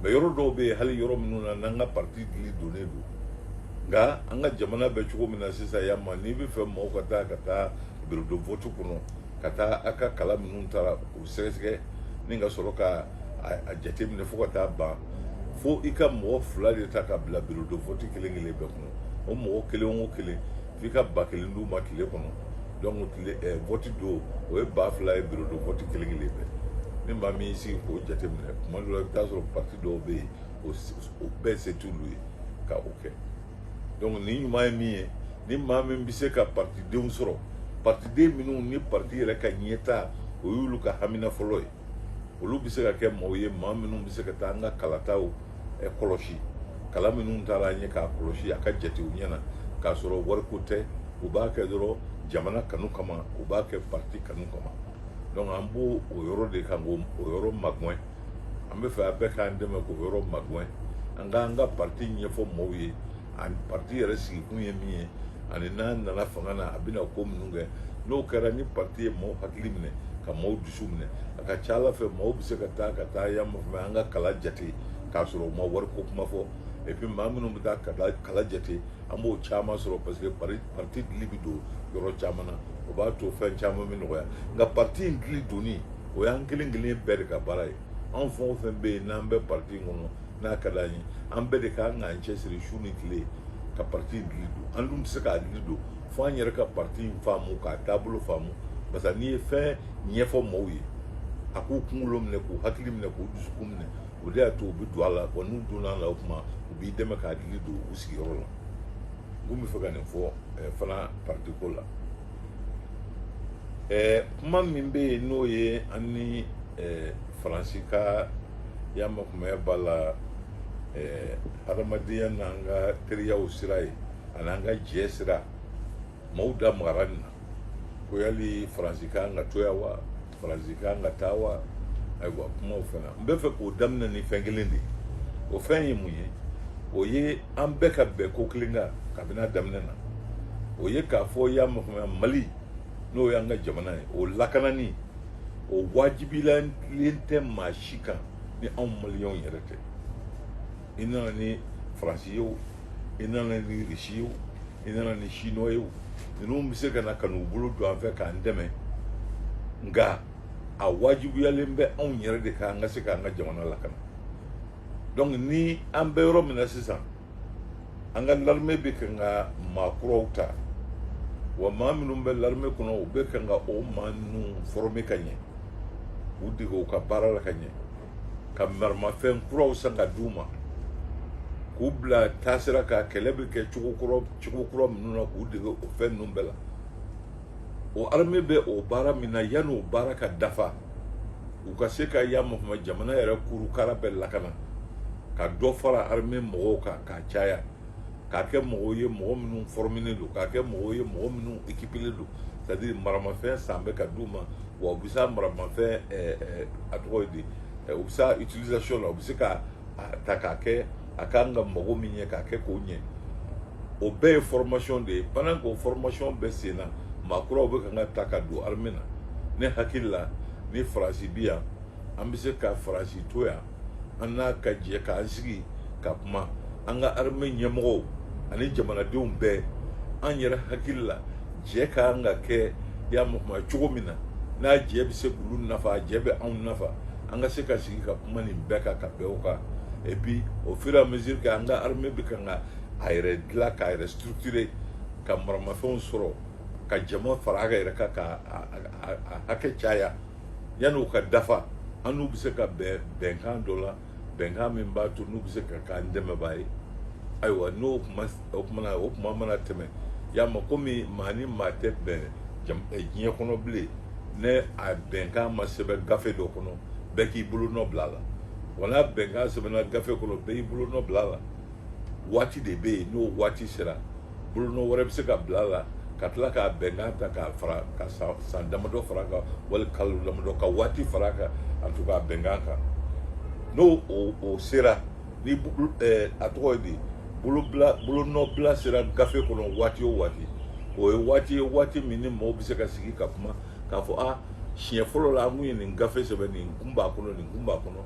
mais yɔrɔ dɔw bɛ yen hali yɔrɔ minnu na n'an ka parti dili donnen don nka an ka jamana bɛ cogo min na sisan yan ma n'i bɛ fɛ mɔgɔw ka taa ka taa bureau de vote kɔnɔ ka taa a ka kala minnu tara u sɛgɛsɛgɛ ni ka sɔrɔ ka a jateminɛ fo ka taa ban fo i ka mɔgɔ fila de ta ka bila biro de vɔti kelen kelen bɛɛ kɔnɔ o mɔgɔ kelen o kelen f'i ka ba kelen d'u ma tile kɔnɔ donc tile ɛɛ vɔti don o ye ba fila ye biro de vɔti kelen kelen bɛɛ ni maa min y'i sigi k'o jateminɛ tuma dɔ la i bɛ taa sɔrɔ parti dɔw bɛ yen o bɛɛ se t'olu ye ka o kɛ. donc nin ɲuman ye min ye ni maa min bɛ se ka partidenw sɔrɔ partiden minnu ni parti yɛrɛ ka ɲɛtaa o y'olu ka hamina fɔlɔ ye olu bɛ se ka kɛ mɔgɔw ye maa minnu bɛ se ka taa an ka kalataw kɔlɔsi kala minnu tara an ye k'a kɔlɔsi a ka jate u ɲɛ na k'a sɔrɔ wariko tɛ u b'a kɛ dɔrɔn jamana kanu kama u b'a kɛ parti kanu kama donc an b'o o yɔrɔ de kan k'o yɔrɔ magɛn an bɛ fɛ a bɛɛ k'an dɛmɛ k'o yɔrɔ magɛn an k'an ka parti ɲɛfɔ mɔgɔw ye ani parti yɛrɛ sigikun ye min ye ani n'an nana fanga na a bɛna ko minnu kɛ n'o kɛra ni parti ye mɔgɔw hakili minɛ ka mɔgɔw dusu minɛ a ka ca la fɛ mɔgɔw bɛ se ka taa ka taa yan fɛ an ka kala jate k'a sɔrɔ u ma wariko kuma fɔ et puis maa minnu bɛ taa kala jate an b'o caman sɔrɔ parce que parti dili bɛ don yɔrɔ caman na o b'a to fɛn caman bɛ nɔgɔya nka parti in dili donni o y'an kelen kelen bɛɛ de ka baara ye anw fɛn o fɛn bɛ yen n'an bɛ parti in kɔnɔ n'a ka d'an ye an bɛɛ de ka kan k'an cɛsiri su ni tile ka parti in dili don an dun tɛ se k'a dili don fo an yɛrɛ ka parti in faamu k'a taabolo faamu parce que n'i ye fɛn ɲɛfɔ mɔgɔw ye a k'u kunkolo minɛ k'u hakili minɛ k'u dusukun minɛ o de y'a to u bɛ don a la wa n'u donna a la o tuma u b'i dɛmɛ k'a dili don u sigiyɔrɔ la n kun bɛ fɛ ka nin fɔ eh, fana parti ko la eh, kuma min bɛ yen n'o ye an ni eh, faransi ka y'a makumaya b'a la hadamadenya n'an ka teriyaw sira ye an'an ka jɛ sira maaw da magara nin na ko yali faransi ka kan ka to yan wa faransi ka kan ka taa wa ayiwa kuma o fan na n bɛ fɛ k'o daminɛ ni fɛn kelen de ye o fɛn ye mun ye o ye an bɛɛ ka bɛn ko kelen kan kabini a daminɛ na o ye k'a fɔ y'a mafamaya mali n'o y'an ka jamana ye o lakanani o wajibiyalen tɛ maa si kan ni anw maliyɛnw yɛrɛ tɛ i nana ni faransi ye o i nana ni risi ye o i nana ni chinois ye o ninnu bɛ se ka na ka n'u bolo don an fɛ k'an dɛmɛ nka a wajibiyalen bɛ anw yɛrɛ de kan an ka se k'an ka jamana lakana donc ni an bɛ yɔrɔ min na sisan an ka larime bɛ kan ka maa kuraw ta wa maa minnu bɛ larime kɔnɔ u bɛ kan ka o maa ninnu fɔrɔme ka ɲɛ k'u dege u ka baara la ka ɲɛ ka maramafɛn kuraw san ka d'u ma k'u bila taasira ka kɛlɛ bɛ kɛ cogo kura cogo kura minnu na k'u dege o fɛn ninnu bɛɛ la o armée bɛ o baara min na yanni o baara ka dafa u ka se ka ya mɔgɔma jamana yɛrɛ kurukara bɛɛ lakana ka dɔ fara armée mɔgɔw kan k'a caya k'a kɛ mɔgɔw ye mɔgɔ minnu fɔrɔminen don k'a kɛ mɔgɔw ye mɔgɔ minnu ekipilen don c'est à dire maramafɛn san bɛ ka d'u ma wa u bɛ s'a maramafɛn a tɔgɔ ye di u bɛ s'a utilisation la u bɛ se ka a ta k'a kɛ a kan ka mago min ɲɛ k'a kɛ k'o ɲɛ o bɛɛ ye formation de ye pendant k'o formation bɛ sen na maa kuraw bɛ kan ka ta ka don armée na ne hakili la ni faransi bi yan an bɛ se ka faransi to yan an n'a ka jɛ k'an sigi ka kuma an ka armée ɲɛmɔgɔw ani jamanadenw bɛɛ an yɛrɛ hakili la jɛ ka kan ka kɛ y'a mɔgɔma cogo min na n'a jɛ bɛ se k'olu nafa a jɛ bɛ anw nafa an ka se ka sigi ka kuma nin bɛɛ kan ka bɛn o kan et puis au fur et à mesure que an ka armée bɛ kan ka a yɛrɛ dilan k'a yɛrɛ structurer ka maramafɛnw sɔrɔ ka jama fara a ka yɛrɛ kan ka a hakɛ caya yanni u ka dafa an n'u bɛ se ka bɛn bɛnkan dɔ la bɛnkan min b'a to n'u bɛ se ka k'an dɛmɛbaa ye ayiwa n'o kuma o kuma na o kuma mana tɛmɛ y'a ma komi maa ni maa tɛ bɛn eh, diɲɛ kɔnɔ bilen ni a bɛnkan ma sɛbɛn gafe dɔ kɔnɔ bɛɛ k'i bolo nɔ bila a la wala bɛnkan sɛbɛnna gafe kɔnɔ bɛɛ y'i bolo nɔ bila a la waati de bɛ yen n'o waati sera bolonɔ wɛrɛ bɛ se ka bila a la ka tila k'a bɛnkan ta k'a fara ka san damadɔ fara a kan wali kalo damadɔ ka waati fara kan a to k'a bɛnkan kan n'o o sera ni eh, a tɔgɔ ye di bolobila bolonɔbila sera gafe kɔnɔ waati o waati o ye waati ye waati min ni mɔgɔw bɛ se ka sigi ka kuma k'a fɔ a siɲɛ fɔlɔ la an kun ye nin gafe sɛbɛn nin kun b'a kɔnɔ nin kun b'a kɔnɔ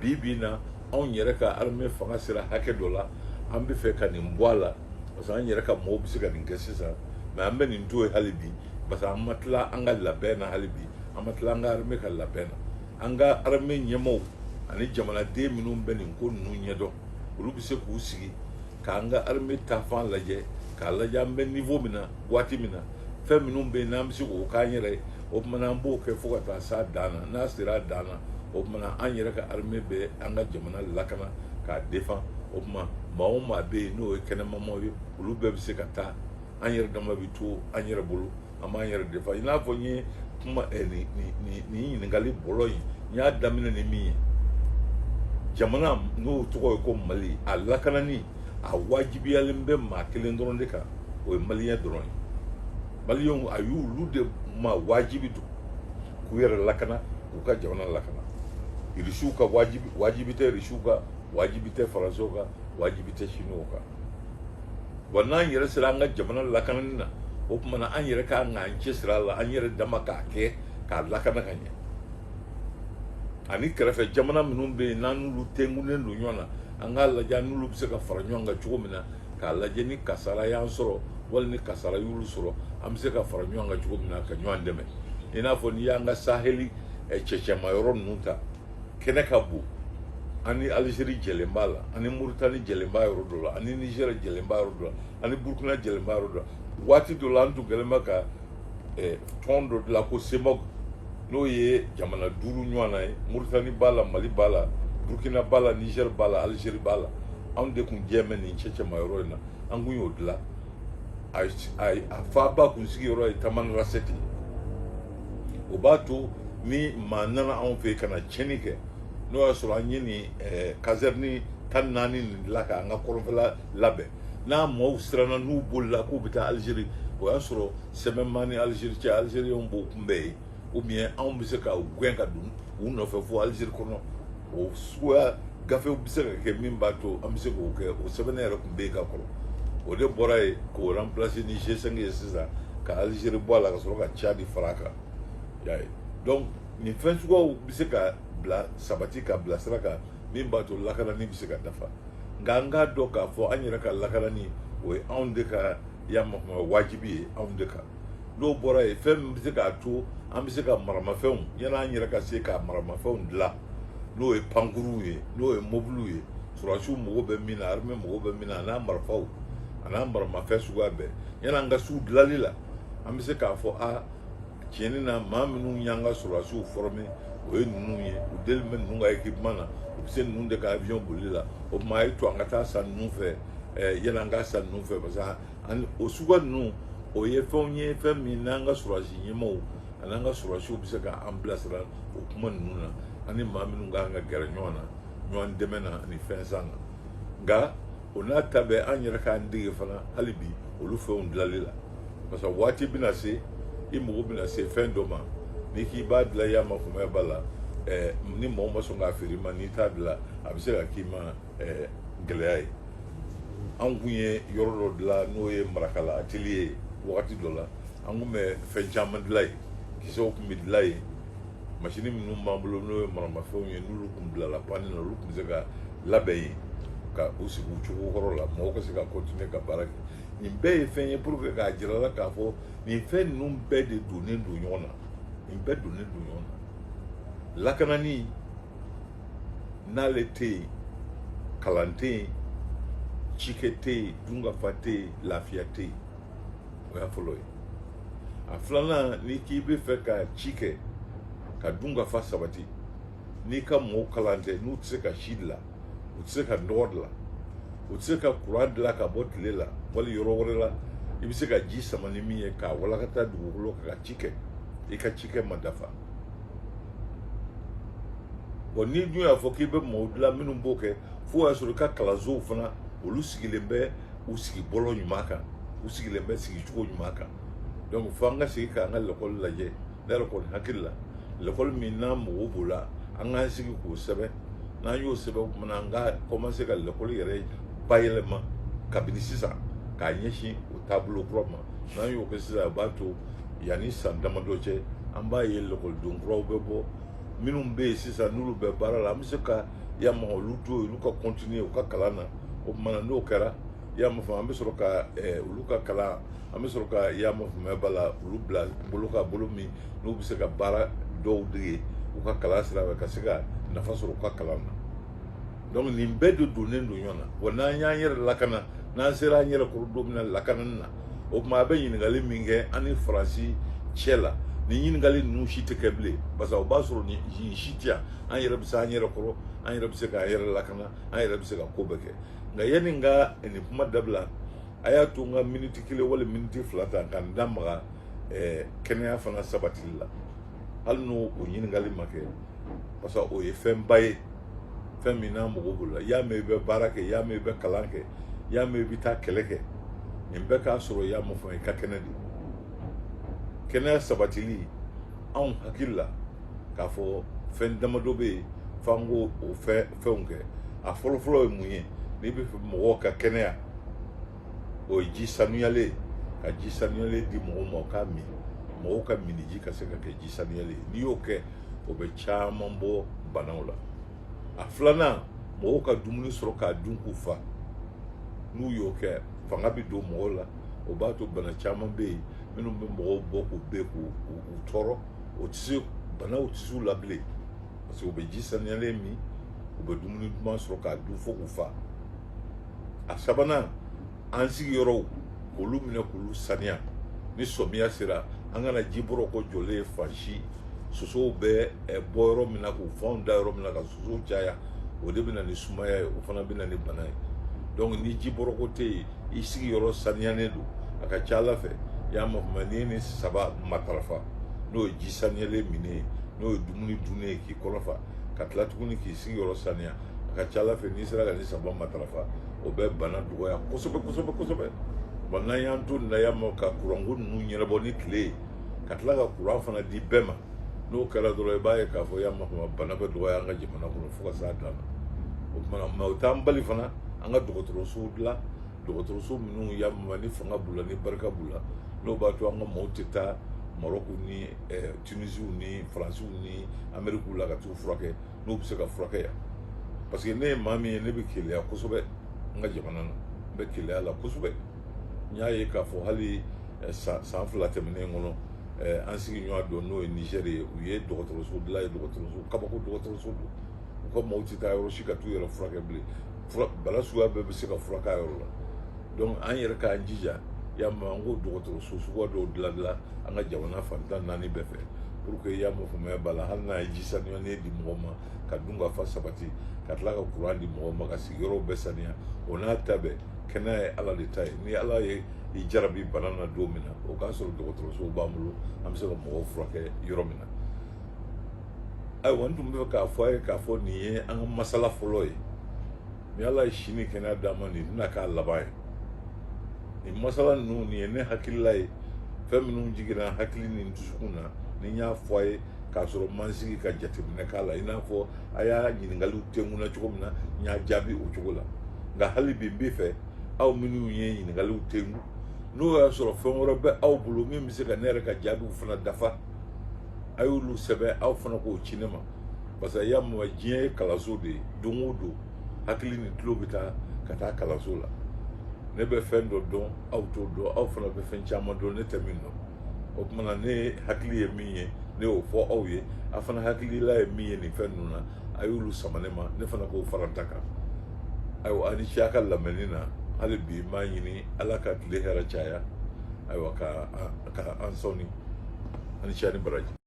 bi bi in na anw yɛrɛ ka armée fanga sera hakɛ dɔ la an bɛ fɛ ka nin bɔ a la parce que an yɛrɛ ka mɔgɔw bɛ se ka nin kɛ sisan mais an bɛ nin to yen hali bi parce que an ma tila an ka labɛn na hali bi an ma tila an ka armée ka labɛn na an ka armée ɲɛmaaw ani jamanaden minnu bɛ nin ko ninnu ɲɛdɔn olu bɛ se k'u sigi k'an ka armée taafan lajɛ k'a lajɛ an bɛ niveau min na waati min na fɛn minnu bɛ yen n'an bɛ se k'o k'an yɛrɛ ye o tuma na an b'o kɛ fo ka taa s'a dan na n'a sera a dan na o tuma na an yɛrɛ ka armée bɛ an ka jamana lakana k'a défend o tuma maa o maa bɛ yen n'o ye kɛnɛmamɔgɔ ye olu bɛɛ bɛ se ka taa an yɛrɛ dama bɛ to an yɛrɛ bolo an b'an yɛrɛ défend i n'a fɔ n ye kuma eh, nin nin nin ɲininkali bolo in n y'a daminɛ ni min ye jamana n'o tɔgɔ ye ko mali a lakanani a wajibiyalen bɛ maa kelen dɔrɔn de kan o ye maliyɛn dɔrɔn ye maliyɛnw a y'olu de ma wajibi don k'u yɛrɛ lakana k'u ka jamana lakana irisiw ka wajibi wajibi tɛ irisiw kan wajibi tɛ faransiw kan wajibi tɛ sinuwaw kan wa n'an yɛrɛ sera an ka jamana lakanani na o tuma na an yɛrɛ k'an k'an cɛsiri a la an yɛrɛ dama k'a kɛ k'a lakana ka ɲɛ ani kɛrɛfɛ jamana minnu bɛ yen n'an n'olu tenkunnen don ɲɔgɔn na an k'a lajɛ an n'olu bɛ se ka fara ɲɔgɔn kan cogo min na k'a lajɛ ni kasara y'an sɔrɔ wali ni kasara y'olu sɔrɔ an bɛ se ka fara ɲɔgɔn kan cogo min na ka ɲɔgɔn dɛmɛ i n'a fɔ n'i y'an ka saheli cɛcɛma yɔrɔ ninnu ta kɛnɛ ka bon ani alizeri jɛlen b'a la ani moritani jɛlen b'a yɔrɔ dɔ la ani nizɛri jɛlen b'a yɔrɔ dɔ la ani burukina jɛlen b'a yɔrɔ dɔ la waati dɔ la an tun kɛlen bɛ ka eh, tɔn dɔ dilan ko cemoc n'o ye jamana duuru ɲɔgɔnna ye moritani b'a la mali b'a la burukina b'a la nizɛri b'a la alizeri b'a la anw de tun jɛlen bɛ nin cɛcɛma yɔrɔ in na an tun y'o dilan a a- a faaba kun sigiyɔrɔ ye tamanrasɛti ye o b'a to ni maa nana anw fɛ yen ka na tiɲɛni kɛ n'o y'a sɔrɔ an ye nin eh, kazɛrini tan naani nin dilan k'an ka kɔrɔnfɛla labɛn n'a maaw siranna n'u bolila k'u bɛ taa alizeri o y'a sɔrɔ sɛbɛn b'an ni alizeri cɛ alizeriyɛnw b'o kunbɛn yen ubiyɛn anw bɛ se ka u gɛn ka don u nɔfɛ fo alizeri kɔnɔ o suguya gafew bɛ se ka kɛ min b'a to an bɛ se k'o kɛ o sɛbɛnni yɛrɛ tun bɛ yen ka kɔrɔ o de bɔra yen k'o ranpilase ni g5 ye sisan ka alizeri bɔ a la ka sɔrɔ ka cadi fara a kan y'a ye donc nin fɛn suguyaw bɛ se ka bila sabati ka bila sira kan min b'a to lakanani bɛ se ka dafa nka an k'a dɔn k'a fɔ an yɛrɛ ka lakanani o ye anw de ka y'a makuma wajibi ye anw de kan n'o bɔra yen fɛn min bɛ se k'a to an bɛ se ka maramafɛnw yanni an yɛrɛ ka se ka maramafɛnw dilan n'o ye pankuruw ye n'o ye mobiliw ye sɔrɔdasiw mago bɛ min na arime mago bɛ min na an'a marifaw an'a maramafɛn suguya bɛɛ yanni an ka se u dilanli la an bɛ se k'a fɔ a tiɲɛni na maa minnu y'an ka sɔrɔdasiw fɔrɔme o ye ninnu ye u deli bɛ ninnu ka ekipeman na u bɛ se ninnu de ka avion bolili la o tuma a y'a to an ka taa san ninnu fɛ yanni an k'a san ninnu fɛ parce que ani o suguya ninnu o ye fɛnw ye fɛn min n'an ka sɔrɔdasi ɲɛmɔgɔw ani an ka sɔrɔdasiw bɛ se ka an bilasira o kuma ninnu na ani maa minnu ka kan ka gɛrɛ ɲɔgɔn na ɲɔgɔn dɛmɛ na ani fɛn san na nka o n'a ta bɛɛ an yɛrɛ k'an dege fana hali bi olu fɛnw dilanli la parce que waati bɛna se i mago bɛna se fɛn dɔ ma n'i k'i b'a dilan i y'a makumaya ba la ɛɛ ni mɔgɔ ma sɔn k'a feere i ma n'i t'a dilan a bɛ se ka k'i ma ɛɛ gɛlɛya ye an kun ye yɔrɔ dɔ dilan n'o ye marakala ateliye ye wagati dɔ la an kun bɛ fɛn caman dilan yen kisɛw tun bɛ dilan yen masini minnu b'an bolo n'o ye maramafɛnw ye n'olu tun bilala panni na olu tun bɛ se ka labɛn yen ka u sigi u cogo kɔrɔ la mɔgɔw ka se ka kɔntine ka baara kɛ nin bɛɛ ye fɛn ye pour que k'a jira la k'a fɔ nin fɛn ninnu bɛɛ de donnen don ɲɔgɔn na nin bɛɛ donnen don ɲɔgɔn na lakanani n'ale tɛ yen kalan tɛ yen cikɛ tɛ yen dunkafa tɛ yen lafiya tɛ yen o y'a fɔlɔ ye a filanan n'i k'i b'a fɛ ka ci kɛ ka dunkafa sabati n'i ka mɔgɔw kalannen tɛ n'u tɛ se ka si dilan u tɛ se ka nɔgɔ dilan u tɛ se ka kuran dilan ka bɔ tile la wali yɔrɔ wɛrɛ la i bɛ se ka ji sama ni min ye k'a walakata dugukolo kan ka ci kɛ i ka cikɛ ma dafa wa n'i dun y'a fɔ k'i bɛ maaw dilan minnu b'o kɛ fo y'a sɔrɔ i ka kalansow fana olu sigilen bɛ u sigibɔlɔ ɲuman kan u sigilen bɛ sigicogo ɲuman kan donc fo an ka segin k'an ka lakɔli lajɛ ne yɛrɛ kɔni hakili la lakɔli min n'an mago b'o la an k'an sigi k'o sɛbɛn n'an y'o sɛbɛn o tuma na an ka kɔmanse ka lakɔli yɛrɛ bayɛlɛma kabini sisan k'a ɲɛsin o taabolo kura ma n'an y'o kɛ sisan o b'a to yanni san damadɔ cɛ an b'a ye lakɔliden kuraw bɛ bɔ minnu bɛ yen sisan n'olu bɛ baara la an bɛ se ka yamaha olu to yen olu ka kɔntiniye u ka kalan na o tuma na n'o kɛra y'a faamu an bɛ sɔrɔ ka eh, olu ka kalan an bɛ sɔrɔ ka yama faamuyaba ba la olu bila bolo kan bolo min n'u bɛ se ka baara dɔw dege u ka kalan sira fɛ ka se ka nafa sɔrɔ u ka kalan na donc nin bɛɛ de donnen don ɲɔgɔn na wa n'an y'an yɛrɛ lakana n'an sera an yɛrɛ kɔrɔ don min na lakanani na o tuma a bɛ ɲininkali min kɛ an ni faransi cɛ la nin ɲininkali ninnu si tɛ kɛ bilen parce que o b'a sɔrɔ nin nin si tɛ yan an yɛrɛ bɛ se an yɛrɛ kɔrɔ an yɛrɛ bɛ se k'an yɛrɛ lakana an yɛrɛ bɛ se ka ko bɛɛ kɛ nka yanni n ka nin kuma dabila a y'a to n ka miniti kelen wali miniti fila ta ka n da maga ɛɛ kɛnɛya fana sabatili la hali n'o o ɲininkali ma kɛ parce que o ye fɛnba ye fɛn min n'a mago b'o la y'a mɛn i bɛ baara kɛ y'a mɛn i bɛ kalan kɛ y'a mɛn i bɛ taa kɛlɛ kɛ nin bɛɛ k'a sɔrɔ i y'a faamu i ka kɛnɛ de kɛnɛya sabatili anw hakili la k'a fɔ fɛn damadɔ bɛ yen f'an k'o o fɛn fɛnw kɛ a fɔlɔfɔlɔ ye mun ye n'i bɛ fɛ mɔgɔw ka kɛnɛya o ye ji sanuyalen ka ji sanuyalen di mɔgɔw ma o k'a min mɔgɔw ka minni ji ka se ka kɛ ji sanuyalen ye n'i y'o kɛ o bɛ caman bɔ banaw la a filanan mɔgɔw ka dumuni sɔrɔ k'a dun k'u fa n'u y'o kɛ fanga bɛ don mɔgɔw la o b'a to bana caman bɛ yen minnu bɛ mɔgɔw bɔ k'u bɛ k'u u tɔɔrɔ o tɛ se banaw tɛ se u la bilen parce que u bɛ ji saniyalen min u bɛ dumuni duman sɔrɔ k'a dun fo k'u fa a sabanan an sigiyɔrɔw k'olu minɛ k'olu saniya ni sɔmiya sera an kana ji bɔrɔkɔ jɔlen ye fan si sosow bɛ bɔ yɔrɔ min na k'u fanw da yɔrɔ min na ka sosow caya o de bɛ na ni sumaya ye o fana bɛ na ni bana ye donc ni ji bɔrɔkɔ tɛ yen i sigiyɔrɔ saniyalen don a ka ca a la fɛ i y'a mafama n'i ye nin saba matarafa n'o ye ji saniyalen minnen ye n'o ye dumuni dunnen ye k'i kɔnɔ fa ka tila tuguni k'i sigiyɔrɔ saniya a ka ca a la fɛ n'i sera ka nin saba matarafa o bɛ bana dɔgɔya kosɛbɛ kosɛbɛ kosɛbɛ wa n'an y'an to nin na yan nɔ ka kuranko ninnu ɲɛnabɔ ni tile ye ka tila ka kuran fana di bɛɛ ma n'o kɛra dɔrɔn i b'a ye k'a fɔ y'a makama bana bɛ dɔgɔya an ka jamana kɔnɔ fo ka s'a dan na o tuma na mais o t'an bali fana an ka dɔgɔtɔrɔsow dilan dɔgɔtɔrɔso minnu y'a mama ni fanga b'u la ni barika b'u la n'o b'a to an ka maaw tɛ taa marɔku ni tunisiw ni faransiw ni amerikiw la ka t'u furakɛ n'u bɛ se ka furakɛ yan parce que ne ye maa min ye ne bɛ keleya kosɛbɛ n ka jamana na n bɛ keleya la kosɛbɛ n y'a ye k'a fɔ hali eh, san fila tɛmɛnen kɔnɔ eh, an sigiɲɔgɔn dɔ n'o ye nizɛri ye u ye dɔgɔtɔrɔso dilan yen dɔgɔtɔrɔso kabako dɔgɔtɔrɔso don u ka maaw tɛ taa yɔrɔ si ka t'u yɛrɛ furakɛ bilen bana suguya bɛɛ bɛ se ka furak'a yɔrɔ la donc an yɛrɛ k'an jija y'a mɛn an k'o dɔgɔtɔrɔso suguya dɔw dilandilan an ka jamana fan tan naani bɛɛ fɛ pour que y'a mɛn faamaya b'a la hali n'a ye ji saniyalen di mɔgɔ ma ka dunkafa sabati ka tila ka kuran di mɔgɔ ma ka sigiyɔrɔw bɛɛ saniya o n'a ta bɛɛ kɛnɛya ye ala de ta ye ni ala ye i jarabi bana na don min na o k'a sɔrɔ dɔgɔtɔrɔsow b'an bolo an bɛ se ka mɔgɔw furakɛ yɔrɔ min na ayiwa n tun bɛ fɛ k'a fɔ a ye k'a fɔ nin ye an ka masala fɔlɔ ye ni ala ye si ni kɛnɛya d'an ma nin tɛna k'a laban ye nin masala ninnu nin ye ne hakilila ye fɛn minnu jiginna hakili ni dusukun na ni n y'a fɔ a ye k'a sɔrɔ n ma n sigi ka jateminɛ k'a la i n'a fɔ a y'a ɲininkaliw tenkun na cogo min na n y'a jaabi o cogo la nka hali bi n bɛ fɛ aw minnu ye ɲininkaliw tenkun n'o y'a sɔrɔ fɛn wɛrɛ bɛ aw bolo min bɛ se ka ne yɛrɛ ka jaabiw fana dafa a y'olu sɛbɛn aw fana k'o ci ne ma parce que y'a mɛn diɲɛ ye kalanso de ye don o don hakili ni tulo bɛ taa ka taa kalanso la ne bɛ fɛn dɔ dɔn aw t'o dɔn aw fana bɛ fɛn caman dɔn ne tɛ min dɔn o tuma na ne hakili ye min ye ne y'o fɔ aw ye a fana hakilila ye min ye nin fɛn ninnu na a y'olu sama ne ma ne fana k'o fara n ta kan ayiwa a ni ce a ka lamɛnni na hali bi n b'a ɲini ala ka tile hɛrɛ caya ayiwa ka an sɔɔni a ni ce a ni baraji